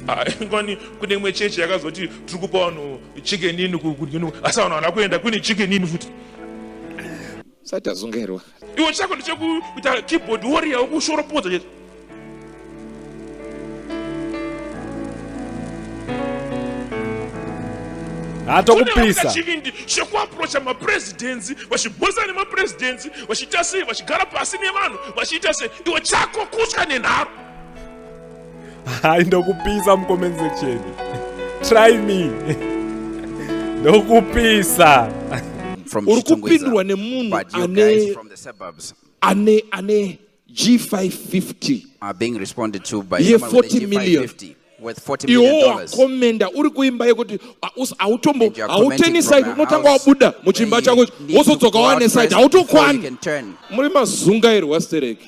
Ah, kwani kune imwe chechi yakazoti tiri kupa vanhu chikenini kudini asi vanhu vana kuenda kune chikenini futi sati azungairwa iwe chako ndichekuita keyboard warrior wokushoropodza chete atokupisa chivindi chekuaprocha mapresidency vachibhozana nemapresidency vachiita sei vachigara pasi nevanhu vachiita sei iwe chako kutya nenharo hai ndokupisa mucomment section try me ndokupisa uri kupindurwa nemunhu ane ane ane g550 ye40 million iwo wakomenda uri kuimba yekuti hautombo hauteni side unotanga wabuda muchimba chako wozodzoka wane side hautokwani muri mazungairwa stereki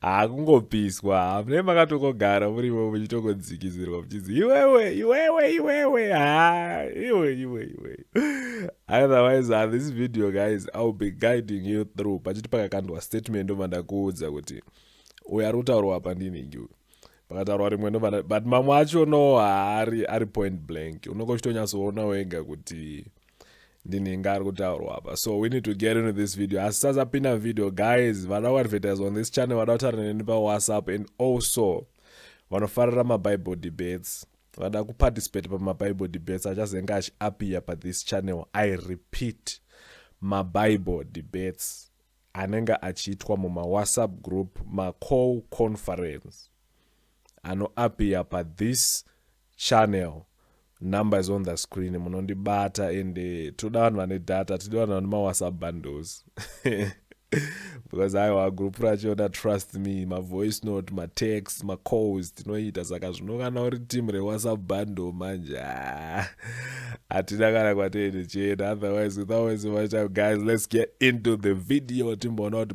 hakungopiswa ah, hamune makatongogara murimo muchitongodzikizirwa muchinzi iwewe iwewe iwewe ha ah, iwe iwe iwe otherwise uh, this video guys iwill be guiding you through pachiti pakakandwa statement ndobva ndakuudza kuti uyo ari kutaurwa apa ndinhingi uyu pakataurwa rimwe ndobva but mamwe acho no haari ari point blank unongochitonyasoona wega kuti ndinenge ari kutaurwa apa so we need to get into this video asi sasapinda video guys vada kuadvertise on this channel vada kutaura neni pawhatsapp and also vanofarira mabible debates vada kuparticipate pamabible debates achazenge achiappear pathis channel i repeat mabible debates anenge achiitwa mumawhatsapp group maco conference anoappear pathis channel number is on the screen munondibata and eh, toda vanhu vane data tidi vanhu vane mawhatsapp bundles because aiwa group racho da trust me mavoice note matext macalls tinoita saka zvino kana uri team rewhatsapp bundle manje ah, hatina kana kwatende chena otherwise without waste of time guys let's get into the video timboona kuti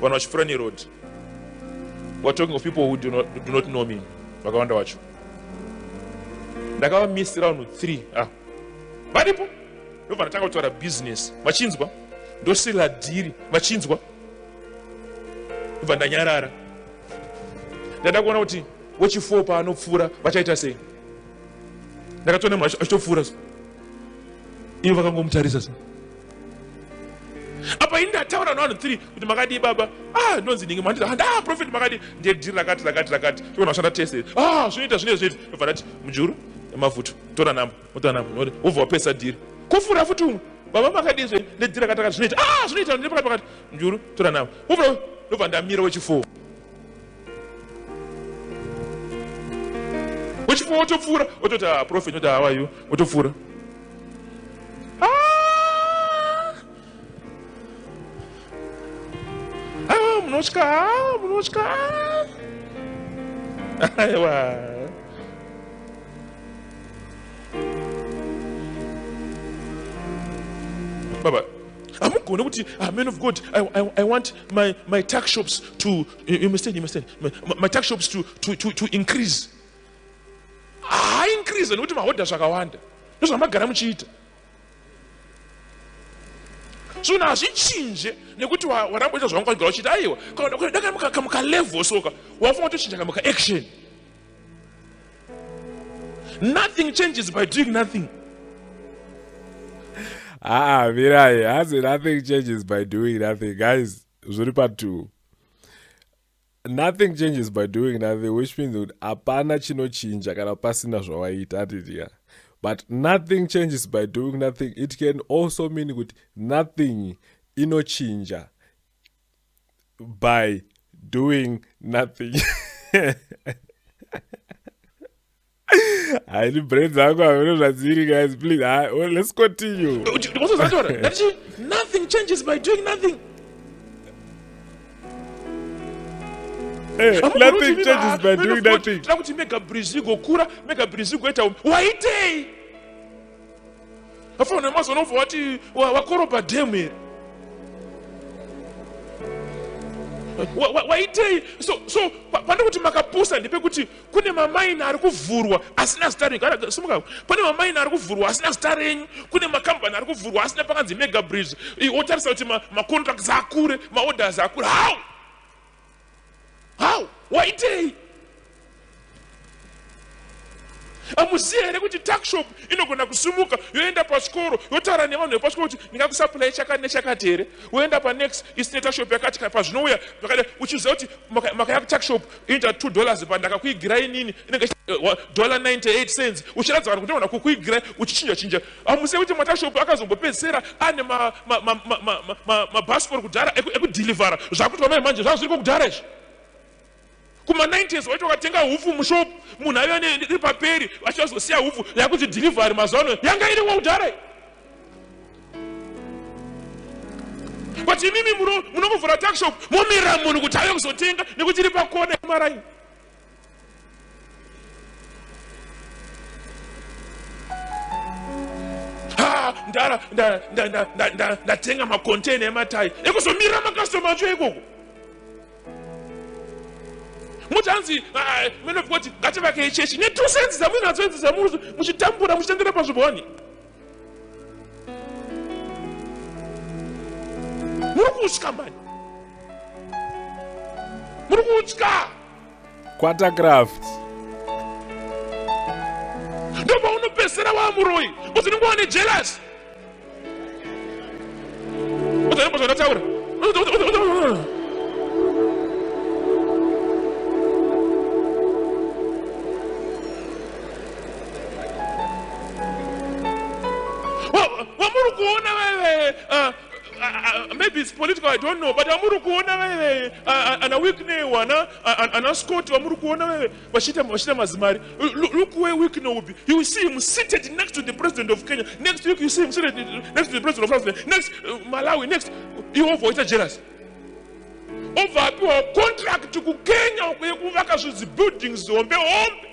vanhu vachipfuura neroad weare talking of people who do not, do not know me vakawanda wacho ndakavamisira vanhu three ah. varipo ndobva ndatanga kutaura business vachinzwa ndosirira dhiri vachinzwa ndobva ndanyarara ndaida kuona kuti wechifour paanopfuura vachaita sei ndakatoona munhu achitopfuura ivo vakangomutarisa sa apa ini ndataura navanhu three kuti makadii baba ah ndonzi ndinge manditi handa ah, profet makadii ndiye dhiri rakati rakati rakati togona kushanda tese ah zvinoita zvinoita zvinoita ndobva ndati mujuru mavuto tora namba wotora namba node wobva wapesa dhiri kufura futi umwe baba makadii zve nedhiri rakati rakati zvinoita ah zvinoita ndine pakati pakati mujuru tora namba wobva ndobva ndamira wechifour uchibva wotopfuura ototi ah, profet oti hawayo wotopfuura ah! ah, munotya munotya aiwa baba hamugone kuti amen ah, of god I, I, i want my, my tax shops to You, you understand? You understand? My, my tax shops to, to, to, to increase. Ah, increase nekuti mahodha zvakawanda ndozvamagara muchiita so na hazvichinje nekuti waramba ita zvavanga wagara uchiita aiwa dakamuka level soka wafunga watochinja kamuka action nothing changes by doing nothing aa ah, mirai hazi nothing changes by doing nothing guys zviri patwo nothing changes by doing nothing which means kuti hapana chinochinja kana pasina zvawaita atitiya but nothing changes by doing nothing it can also mean kuti nothing inochinja by doing nothing haidi brain dzangu havino zvadziri guys please ha, well, let's continue ndikozozatora ndati nothing changes by doing nothing eh, nothing changes by doing nothing tira kuti mega brizi igokura mega brizi igoita um waitei afanira mazoona ubva wati wakorobha dhemu here waitei so so pandikuti makapusa ndepekuti kune mamaini ari kuvhurwa asina zita renyu gara simuka pane mamaini ari kuvhurwa asina zita renyu kune makambani ari kuvhurwa asina pakanzi mega bridge wotarisa kuti macontracts ma akure maorders akure how how waitei amuziva here kuti takshop inogona kusimuka yoenda pachikoro yotaura nevanhu vepachikoro kuti ndingakusapurai chakati nechakati here woenda panext isine takshop yakati pazvinouya zvakada uchiziva kuti makayakutakshop inoita 2 dollars pandakakuigira inini inenge eh, dollar 98 cents uchiratidza vanhu kuti ona kukuigira uchichinja chinja hamuzivi kuti matashop akazombopedzisira ane mabhasikoro kudhara ekudhilivhara zvakuti vamai manje zvava zviri kokudhara izvi kuma 90s waiti wakatenga hupfu mushop munhu aive iri paperi vachazosiya hupfu yakuti dhilivhari mazuvano yanga iri kokudhara but imimi munongovhura takshop momirira munhu kuti ave kuzotenga nekuti iri pakona maraini ndatenga makontena ematai ekuzomirira makastoma acho ikoko muti hanzi menofikoti ngativakei chechi netusenzi dzamwinadzo idzi dzamuchitambura muchitendera pazviboni muri kutya mani muri kutya kwatakraft ndopaunopesera wamuroyi uzinenge wane jealous uzanembozvanataura vamuri kuona veve ah, ah, ah, maybe its political i don't know but vamuri kuona veve ana wickney wana ana scott vamuri kuona veve vachiita mazimari look where wickney will be you will see him seated next to the president of kenya next week you see him seated next to the president of africa next uh, malawi next iwova waita jealous obva apiwa contract kukenya yekuvaka zvizibuildings hombe hombe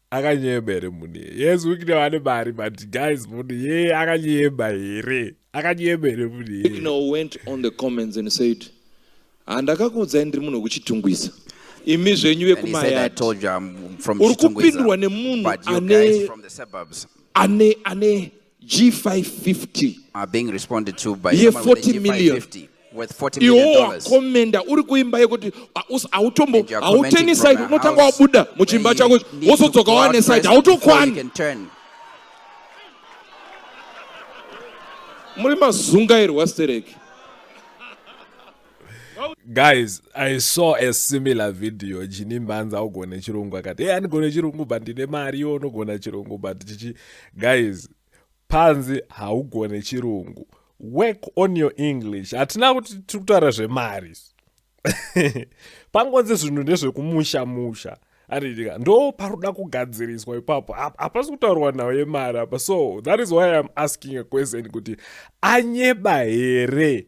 akanyeba here munhu iye yes wikno ane mari but guys munhu iye akanyeba here akanyeba here munhu iye wikno went on the comments and said handakakuudzai ndiri munhu wekuchitungwiza imi zvenyu vekumayati uri kupindwa nemunhu ane ane ane G550 are being responded to by ye 40 million iwo wakomenda uri kuimba yekuti hautombo hauteni side unotanga wabuda muchimba chako wozodzoka wane side hautokwani muri mazungairwa stereki guys i saw a similar video jini mbanza augone chirungu akati hey andigone chirungu but ndine mari iwo unogona chirungu but chichi guys panzi haugone chirungu work on your english hatina kuti tiri kutaura zvemari pangonzi zvinhu ndezvekumusha musha aritika ndo paroda kugadziriswa ipapo hapasi kutaurwa nhau yemari apa so that is why iam asking a question kuti anyeba here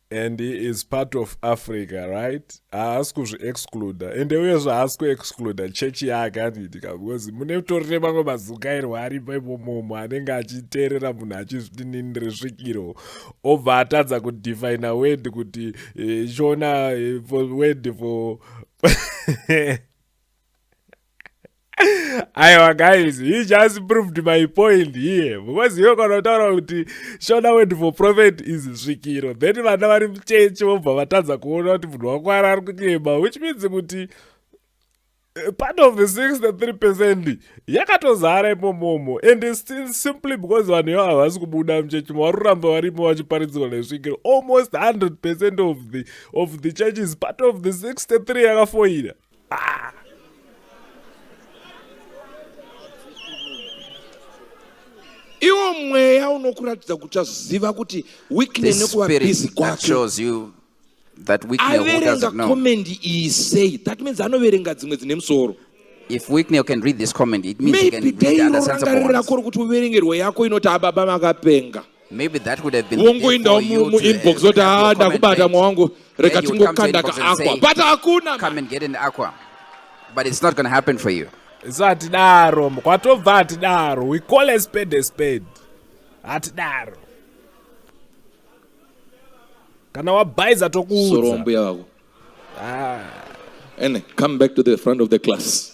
and he is part of africa right haasi kuzviexcluda ende uyezve haasi kuexcluda chechi yake anoitika because mune utori nemamwe mazungairwo aripo imomomo anenge achiteerera munhu achizvitinini resvikiro obva atadza kudefina word kuti eh, chiona eh, word for aiwa guys he just proved my point here because iwe kana utaura kuti shona word for prophet is svikiro then vana vari muchechi vobva vatadza kuona kuti munhu wakwara ari kunyema which means kuti eh, part of the 63 percent yakatozara imomomo and still simply because vanhu ivo havasi kubuda muchechi mo vari kuramba varimo vachiparidzirwa nesvikiro almost 100 percent of the, of the church is part of the 63 yakafoira Ah. iwo mweya unokuratidza kuti aziva kuti weekly nekuva busy kwake that Wickney who doesn't know. comment he say that means anoverenga dzimwe dzine musoro If Wickney can read this comment, it means he can maybe read dai other sensible ones. rako rokuti uverengerwe yako inoti ababa makapenga Maybe that would have been wongoindawo muinbox oti haa ndakubata mwa wangu reka tingokanda kaakwa but hakuna come and get an aqua but it's not going to happen for you isu hatidaro kwatobva hatidaro we call a spade a spade hatidaro kana wabhaiza tokuudza mbuya vako ah. ene come back to the front of the class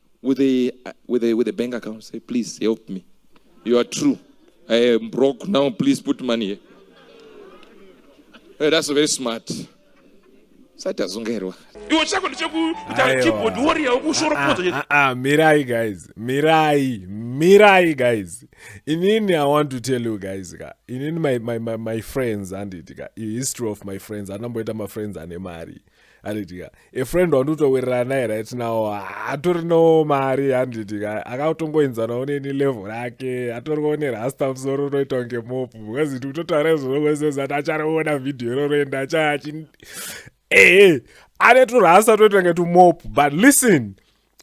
with a uh, with a with a bank account say please help me you are true i am broke now please put money here hey, that's very smart sati azungairwa iwe chako ndichekuita keyboard warrior ukushoropoza ah, ah, ah, mirai guys mirai mirai guys inini i want to tell you guys ka inini my, my, my, my friends handiti ka history of my friends anamboita mafriends ane mari anditika a friend wandotowirirana naye right now hatorinawo mari handitika akatongoenzanawo neni level rake hatoriwo nerasta musoro unoita kunge mopu because ndi kutotaura izvozvozezati achariona vhidhiyo iroro ende achachi ee ane turasta toita kunge tumopu but listen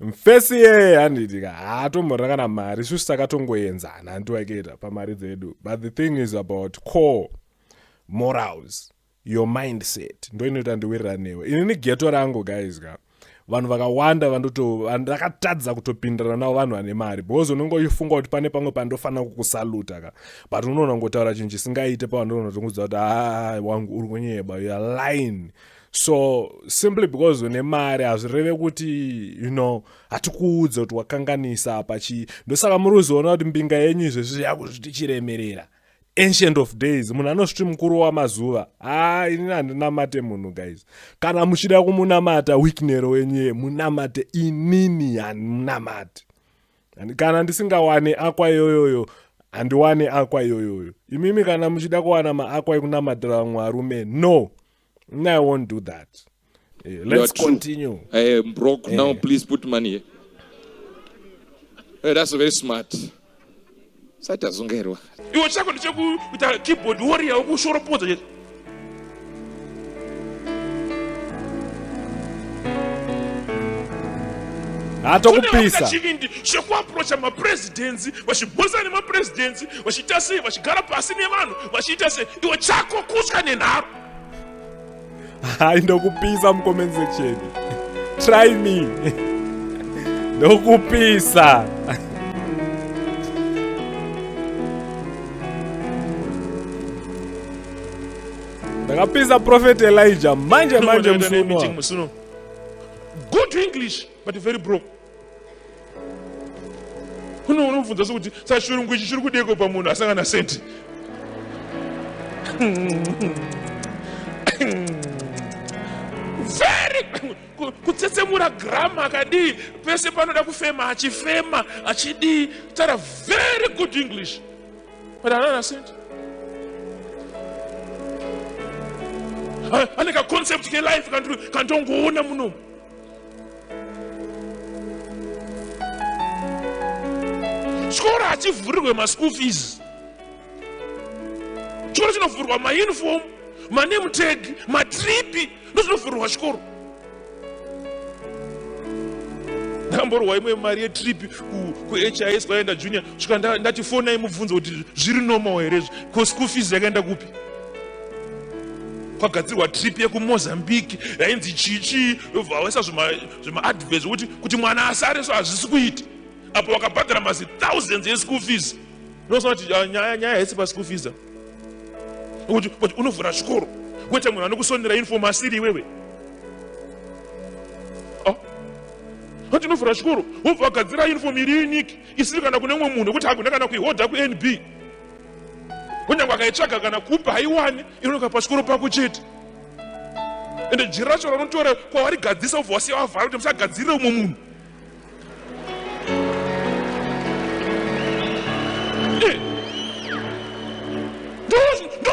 mfesi yeye handitika haatomhorera kana mari shushi takatongoenzana handiwaketa pamari dzedu but the thing is about core morals Your mindset ndoinoita ndiwirirane newe inini geto rangu guys ka vanhu vakawanda vandoto ndakatadza kutopindirana navo vanhu vane mari because unenge uchifunga kuti pane pamwe pandofanira kukusaluta ka but unoona ngotaura chinhu chisingaite pavandoona kuti unguziva kuti aa wangu uri kunyeba youare line so simply because une mari hazvireve kuti you know hatikuudze kuti wakanganisa apa chii ndosaka muri kuzoona kuti mbinga yenyu izvezvi yakuzviti chiremerera ancient of days munhu anozviti mukuru wamazuva haa ah, inini handinamate munhu guys kana muchida kumunamata wiknero wenyuye munamate inini handimunamati kana ndisingawane akwa iyoyoyo handiwane akwa iyoyoyo imimi kana muchida kuwana maakwa ekunamatira vamwe varume no No, I won't do that. Eh, let's continue. I am broke now. Eh. Please put money here. Hey, eh, that's very smart. Sata zungerwa. Iwe chako ndichekuita keyboard warrior ukushoropodza chete. hatokupisa chivindi chekuaprocha mapresidensi vachibhosa nemapresidensi vachiita sei vachigara pasi nevanhu vachiita sei iwe chako kutya nenharo hayi ndokupisa mucomment section try me ndokupisa ndakapisa prophet elijah manje manje musuno good english but very broke uno unomubvunza sokuti sachirungu ichi chiri kudeko pamunhu asangana senti very kutsetsemura grama akadii pese panoda kufema achifema achidii tara very good english but anana senti ane kaconcept kelife kantongoona munomu chikoro hachivhurirwe maschool fees chikoro chinovhurwa mauniform maname tag matripi ndozvinovhurirwa chikoro ndamborwa imwe mari yetripi kuhis kwaenda junior svika ndati fonai mubvunzo kuti zviri normal here izvi ko school fees yakaenda kupi kwagadzirwa trip yekumozambique yainzi chichii vaisa zvemaadvert zvekuti kuti mwana asare so hazvisi kuita apo vakabhadhara mazi thousands eschool fees ndosona kuti ah, nyaya nyaya haisi paschool fees kuti kuti unovhura zvikoro kwete munhu anokusonera uniform asiri iwewe ah. ati unovhura zvikoro wobva wagadzira uniform iri unique isiri kana kune umwe munhu wekuti hagona kana kuihodha kunb kunyange akaitsvaga kana kupa haiwani inonoka pasikoro pako chete ende jiri racho ranotora kwawarigadzisa ubva wasiya wavhara kuti musagadzirire umwe munhu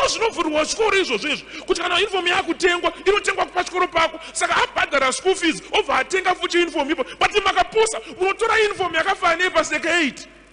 zvinovhurwa chikoro izvozvo izvo kuti kana uniform yakutengwa inotengwa pachikoro pako saka abhadhara school fees obva atenga futi uniform ipo but makapusa munotora uniform yakafanira nepaseka 8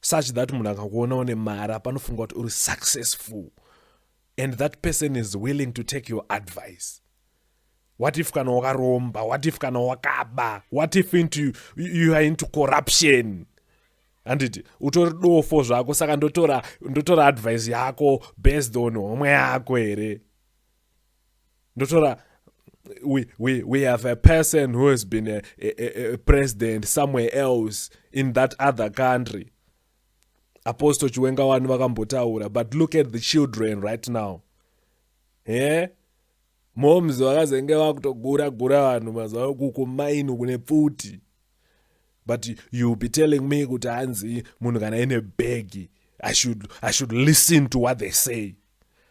such that munhu akakuona une mari apanofunga kuti uri successful and that person is willing to take your advice what if kana wakaromba what if kana wakaba what if into, you are into corruption handiti utori dofo zvako saka ndotora ndotora advice yako based on homwe yako here ndotora we, we, we have a person who has been a, a, a president somewhere else in that other country apostle chiwenga wani vakambotaura but look at the children right now he yeah? moms vakazenge vakutogura gura vanhu mazuva uku kumaini kune pfuti but youll be telling me kuti hanzi munhu kana ine bhegi I should, i should listen to what they say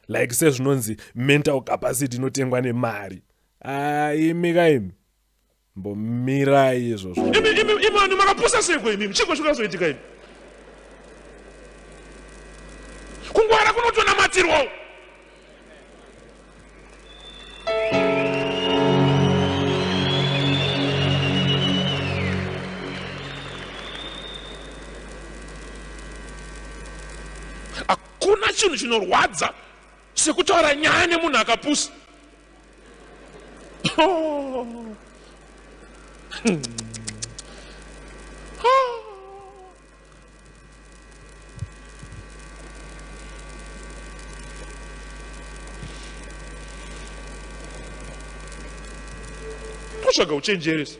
like sezvinonzi mental capacity inotengwa nemari ah, imi ka imi mbomirai izvozvo imani makapusa seko imi chiko chikazoitika imi kungwara kunotonamatirwawo Kuna chinhu chinorwadza sekutaura nyaya nemunhu akapusa. Oh. Hmm. kutsvaga uchenjeresa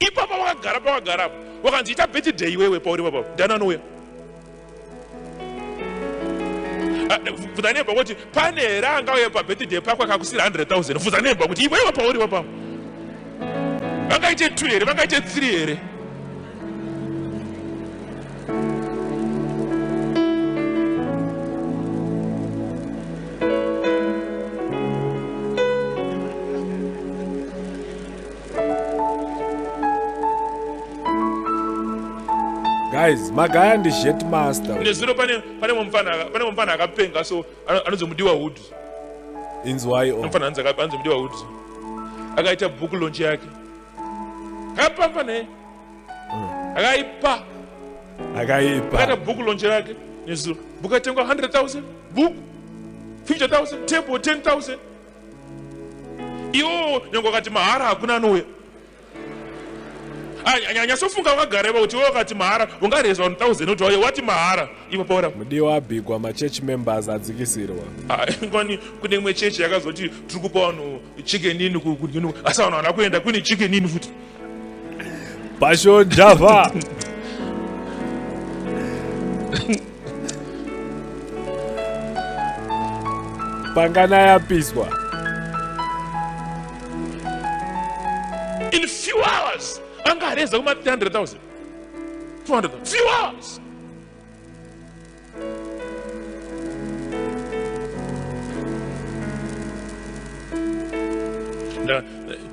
ipapa wakagara pawagara apo wakanzi ita birthday iwewe pauri papa ndana anouya bvunza ah, nemba kuti pane here angauye pabirthday pako akakusira 100 000 bvunza nemba kuti iwewe pauri papa vangaite two here vangaite three here guys magaya ndi jet master ine zvino pane pane mumfana pane mumfana akapenga so anonzi mudiwa hood inzwai o mfana anzi anonzi mudiwa hood akaita book launch yake kapa pane hmm. akaipa akaipa akaita book launch yake nezuro book atengwa 100000 book 50000 table 10000 iwo nyange wakati mahara hakuna anouya anyasofunga wakagareva kuti iwe wakati mahara ungareza 1000 kuti wauye wati mahara ivo paura mudiwa abigwa machurch members adzikisirwa ah, ngwani kune imwe chechi yakazoti tiri kupa vanhu chicken ini asi vanhu vana kuenda kune chicken ini futi Passion Java. Pangana yapiswa. In few hours, anga areza kuma 300,000. 200,000. Few hours. Now,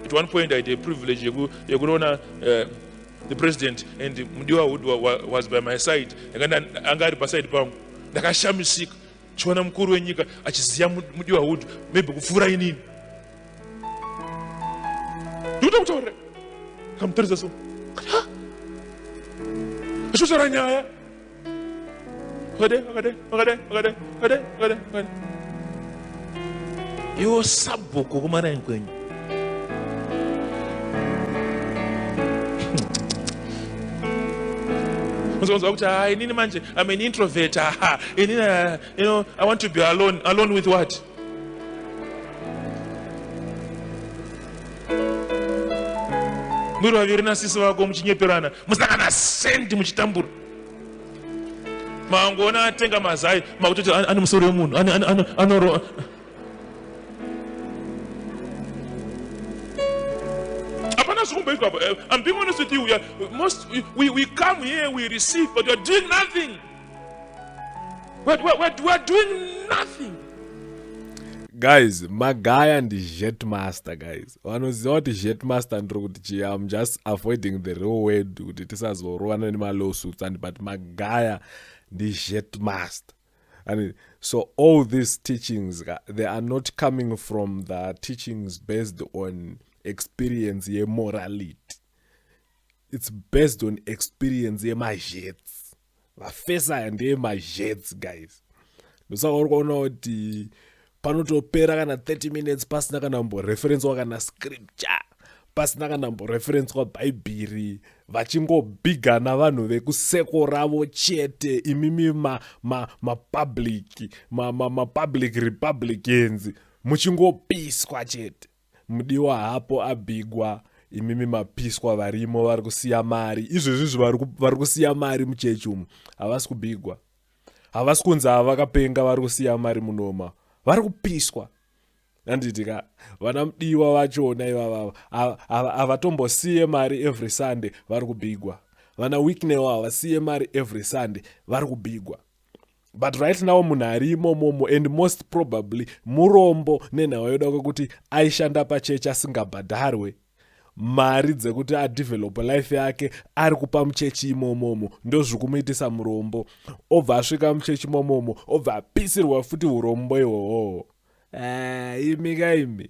at one point I had a privilege yekuona uh, the president and mudiwa wood was by my side anga ari paside pangu ndakashamisika chiona mukuru wenyika achiziva mudiwa wood maybe kupfuura inini ndoda kutaurira kamutarisa so achotaura nyaya iwo sabhuku kumaraini kwenyu muzonzwa kuti ha inini manje am an introvert ha inini uh, you know, i want to be alone alone with what muri vaviri nasisi vako muchinyeperana musangana sendi muchitambura mangoona atenga mazai makutoti ane musoro wemunhu anoroa hapana zvikumboitwa apo eh, i'm being honest with you we, are, most, we, we, we come here we receive but weare doing nothing we're, we're, we're doing nothing guys magaya ndi jetmaster guys vanoziva kuti jetmaster ndiri kuti chii am just avoiding the real word kuti tisazorovana nemalawsuits and but magaya ndijetmaster and so all these teachings they are not coming from the teachings based on experience yemorality it's based on experience yemajets mafesi aya ndeye mazhets guys ndosaka uri kuona kuti panotopera kana 30 minutes pasina kana mboreferenswa kana scripture pasina kana mboreferenswa bhaibheri vachingobigana vanhu vekuseko ravo chete imimi mapublic ma, ma, ma, ma, ma republicans muchingopiswa chete Mudiwa hapo abigwa imimi mapiswa varimo vari kusiya mari izvezvizvi vari kusiya mari muchechi umu havasi kubigwa havasi kunzi ava vakapenga vari kusiya mari munoma vari kupiswa handiti ka vana mudiwa vachona ivavava havatombosiye mari every sunday vari kubigwa vana wicknewo havasiye mari every sunday vari kubigwa but right now munhu ari imomomo and most probably murombo nenhau yoda kwekuti aishanda pachechi asingabhadharwe mari dzekuti adevelope life yake ari kupa muchechi imomomo ndozviri kumuitisa murombo obva asvika muchechi imomomo obva apisirwa futi urombo ihwohwohwo eh, imi ka imi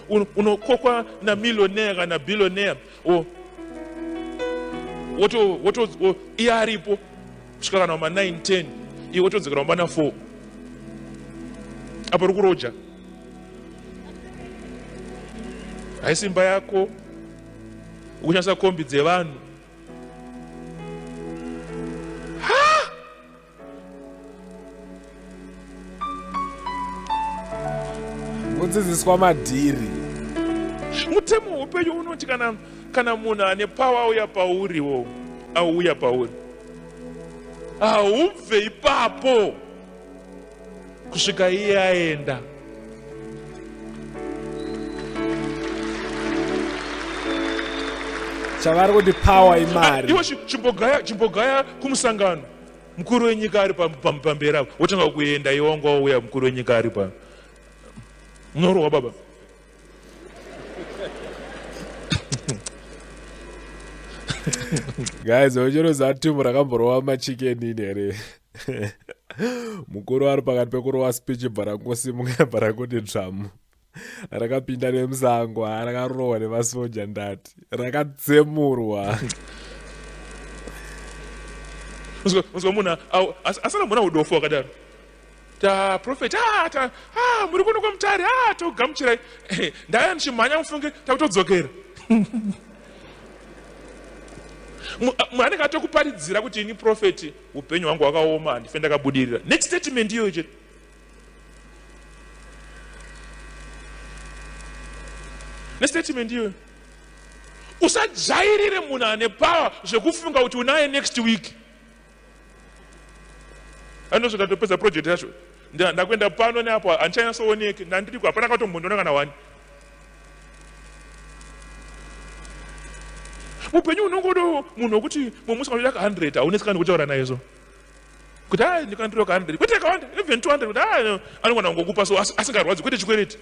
unokokwa namillionaire kana billionaire or woto woto iye aripo kusvika kana wama 9 10 iwe wotodzikana wamana 4 apo uri kuroja haisi imba yako ukushandisa kombi dzevanhu kudzidziswa madhiri mutemo hweupenyu unoti kana kana munhu ane pawa auya pauri wo auya pauri haubve ipapo kusvika iye aenda chavari kuti pawa imari iwe chimbogaya chimbogaya kumusangano mukuru wenyika ari pamberi apo wotanga kuenda iwe wanga wauya mukuru wenyika ari pa munorohwa baba guys ochero zatimu rakamborova machikenini here mukuru ari pakati pekurowa speech bva rangosimuka bva rakuti dzvamu rakapinda nemusango rakarohwa nemasoja ndati rakatsemurwa unzwa munhu asana muna udofo wakadaro taprofeti ah, ah, muri kuno kwamutari ah, togamuchirai ndaya ndichimhanya mufunge takutodzokera anenge atokuparidzira kuti ini profeti upenyu hwangu hwakaoma handife ndakabudirira next statement iyoyo chete nestatement iyoyo usajairire munhu ane power zvekufunga kuti unaye next week anosvika topedza project yacho ndakuenda pano neapo handichanyatsooneke ndandiriko hapana katombondiona kana wani upenyu unongodo munhu wekuti mumwe musikana unoda ka 100 haunetsi kana nekutaura naye so kuti a ndikandiro kahandred kwete kawanda even 200 kuti a anogona kungokupa so asingarwadzi kwete chikwereti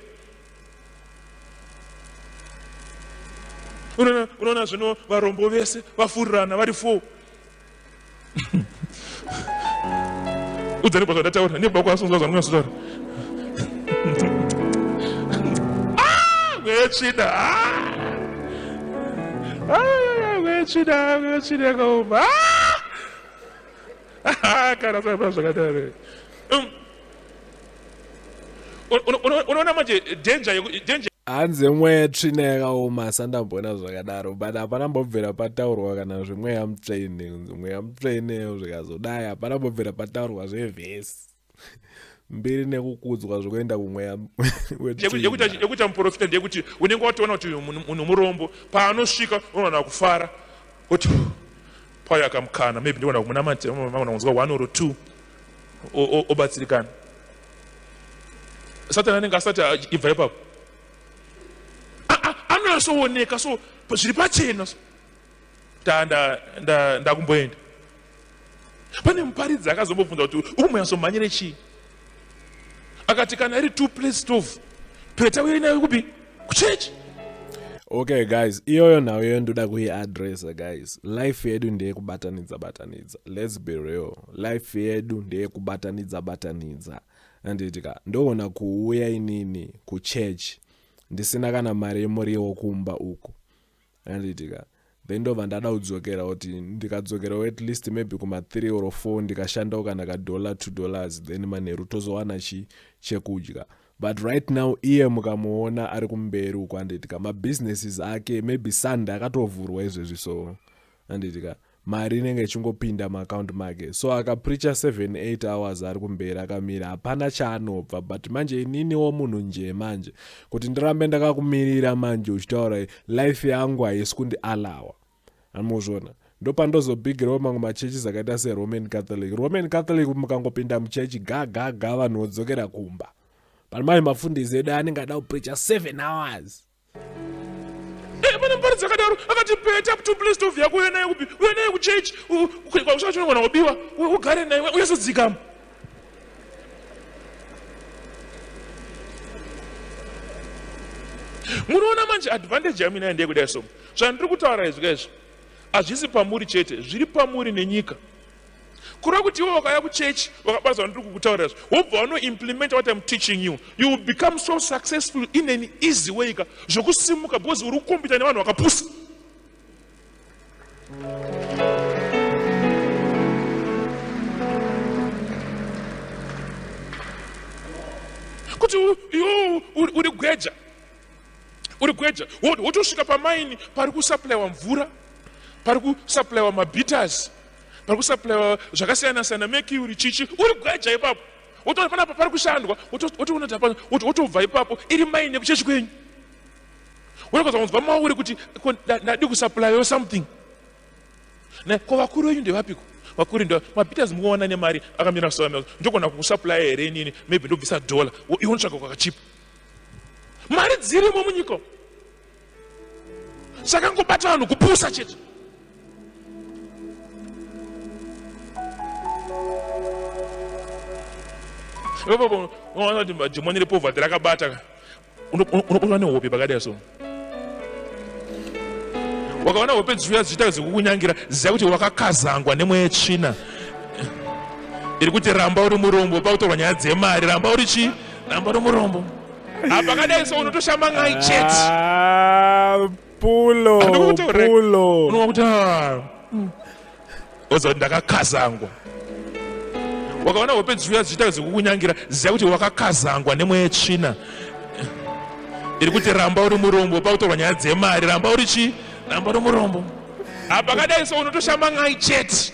unoona zvino varombo vese vafurirana vari four udzani kwazvandataura nebaba kwaasonzwa zvanonyatsotaura wetsvina wetsvina wetsvina kaoma kana zvaiva zvakadaro um, unoona manje danger danger hanzi mweya tsvina yakaoma sandamboona zvakadaro but hapana mbobvira pataurwa kana zvemweya mutsvene mweya mutsvene zvikazodai hapana mbobvira pataurwa zvevhesi mbiri nekukudzwa zvekuenda kumweya yekuita muprofita ndeyekuti unenge watoona kuti munhu murombo paanosvika unoona kufara kuti paya akamukana maybe ndiona kumunamatira magona kunzwa one or two obatsirikana satani anenge asati ibva ipapo anonasooneka so zviri pachena so ta ndakumboenda pane muparidzi akazombobvunza kuti ukumboyatsomhanyire chii akati kana iri two place stove peta uye inayo kupi kuchechi okay guys iyoyo nhau iyoyo ndoda kuiadressa guys life yedu ndeyekubatanidza batanidza lets be real life yedu ndeyekubatanidza batanidza andiitika ndoona kuuya inini kuchurch ndisina kana mari yemuriwo kumba uku Handiti ka. Then ndobva ndada kudzokera kuti ndikadzokerawo at least maybe kuma 3 or 4 ndikashandawo kana ka dollar 2 dollars then manheru tozowana chi chekudya but right now iye mukamuona ari kumberi uko handiti ka mabusinesses ake maybe sunday akatovhurwa izvezvi so handiti ka mari inenge ichingopinda muaccount make so akapricha 78 hours ari kumberi akamira hapana chaanobva but manje ininiwo munhu njee manje kuti ndirambe ndakakumirira manje uchitaura life yangu haisi kundi alawa amuzvona ndopandozobigirawo mamwe machurches akaita seroman catholic roman catholic mukangopinda muchechi gagaga vanhu vodzokera kumba pano manje mafundisi edu anenge ada kupricha 7 hours Hapana mupari dzakadaro akati peta kuti please tovhiya kuuya naye kupi uya naye kuchechi ukaikwa kusvika chinowana kubiwa ugare naye uyasodzikama munoona manje advantage yamina yandeye kudai so zvandiri kutaura izvika izvi hazvisi pamuri chete zviri pamuri nenyika kureva kuti iwe wakauya kuchechi wakabatwa ndiri kukutaurira zve wobva wanoimplimenta what im teaching you you will become so successful in an easy way ka zvokusimuka because uri kukombita nevanhu vakapusa kuti iwe uri gweja uri gweja wotosvika pamaini pari kusuplyiwa mvura pari kusuplyiwa mabitters pari kusaplaiwa zvakasiyana siyana mekiuri chichi uri gweja ipapo wotoona panapa pari kushandwa wotoona tapa wotobva ipapo iri maine kuchechi kwenyu wotokaza kunzwa mauri kuti ndadi kusaplaiwa something na ko vakuru venyu ndevapiko vakuru ndo mapeters mukuona nemari akamira so ndogona kukusaplaya here inini maybe ndobvisa dollar iwo ndotsvaga kwakachipa mari dzirimo munyika zvakangobata vanhu kupusa chete unoona kuti madhimoni repovhati rakabata unoona nehope pakadai so wakaona hope dzichiuya dzichiita dzekukunyangira ziva kuti wakakazangwa nemweya tsvina iri kuti ramba uri murombo pakutorwa nyaya dzemari ramba uri chii ramba uri murombo Apakadai so unotoshamba ngai chet. Ah, pulo, pulo. Unowa kuti ah. Ozo ndakakazangwa. Wakaona hope dziuya dzichita zvekukunyangira ziya kuti wakakazangwa nemweya yetsvina. Iri kuti ramba uri murombo pakutorwa nyaya dzemari ramba uri chi ramba uri murombo. Apakadai so unotoshamba ngai chet.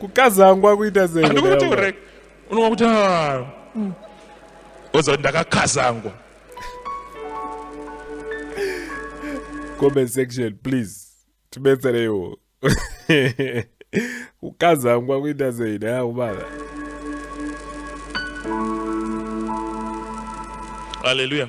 Kukazangwa kuita sei? Andikuti urek. unoona kuti ah. mm. oza kuti ndakakazangwa comment section please tibetsereiwo kukazangwa kuita sei daya kubala haleluya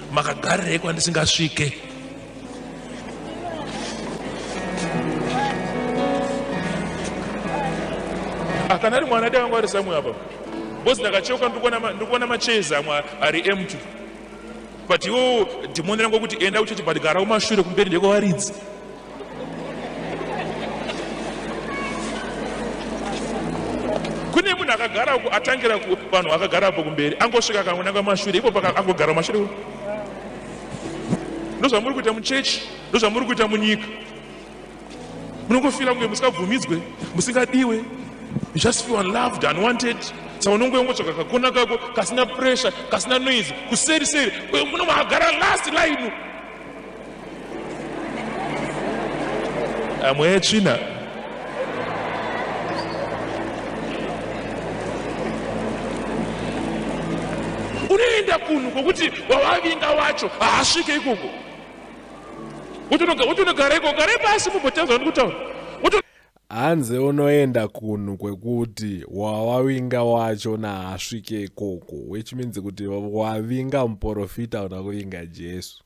makagarirei kwandisingasvike akana ah, ari mwana dai vangu ari samwe apa bcause ndakacheuka ndikuona machairs amwe ari empty but iwo dhimoni rangu kuti enda kuchechi but gara kumashure kumberi ndekwawaridzi kune munhu akagara uku atangira vanhu akagara apo kumberi angosvika akangonanga mashure ipo angogara mashure uku ndozvamuri kuita muchechi ndozvamuri kuita munyika munongofira kunge musingabvumidzwe musingadiwe you just feel unloved unwanted saka unongo yongotsvaga kakona kako kasina pressure kasina noise kuseri seri uyo muno magara last line amwe etsvina unoenda kunhu kwokuti wawavinga wacho haasvike ikoko utonogara ikoko gare pasi mumbotaura ndikutaura Hanzi unoenda kunhu kwekuti wawavinga wacho naasvike ikoko which means kuti wavinga muporofita una kuvinga Jesu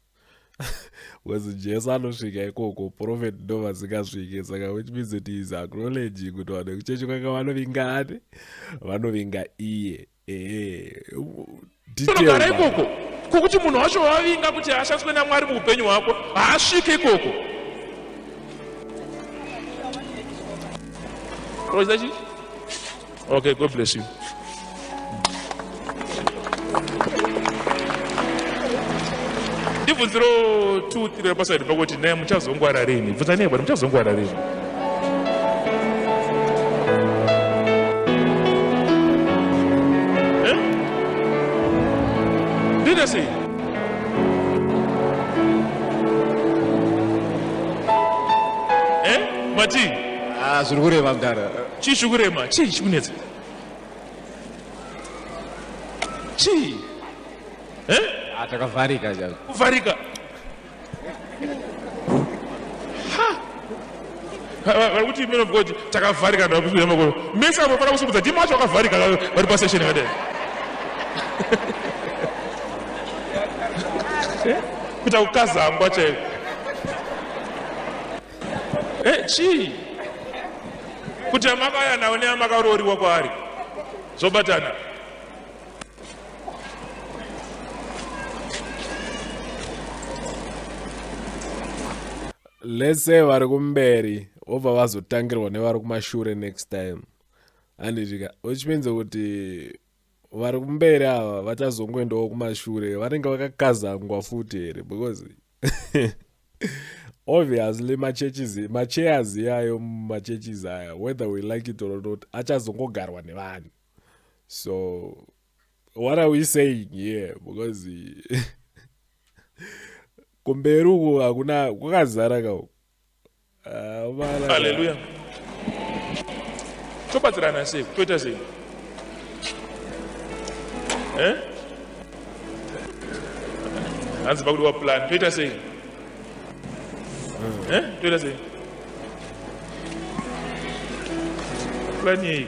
because Jesu anosvika ikoko prophet ndo vasingasvike saka which means kuti is acknowledging kuti vanhu vekuchechi kwake vanovinga ani vanovinga iye unogara ikoko kwokuti munhu wacho wavinga kuti haashandiswe namwari muupenyu hwako haasvike ikoko okay god bless you ndibvunziro 2 3 rapasaidi pakuti naye muchazongwara rini bvunzanei bwana muchazongwara rini zviri kurema mdara chii chiri kurema chii chikunetsa chii eh? ah, takavharika kuvharika vari kuti men of god takavharika ndaakuiamakoro mese avo fana kusumudza ndima wacho vakavharika vari pasession yakadai eh? kuita kukazangwa chaiko eh, chii kuti amakaya nawo neamakarooriwa kwaari zvobatana let's say vari kumberi vobva vazotangirwa nevari kumashure next time handidika which means kuti vari kumberi ava vachazongoendawo kumashure vanenge vakakazangwa futi here because obviously machurches machairs iyayo mumachurches aya whether we like it or not achazongogarwa nevanhu so what are we saying here because kumberi uku hakuna kwakazara kau aleluya ah, tobatsirana sei toita sei eh? hanzi pakudiwa plan toita sei hmm. eh? toita sei plan yei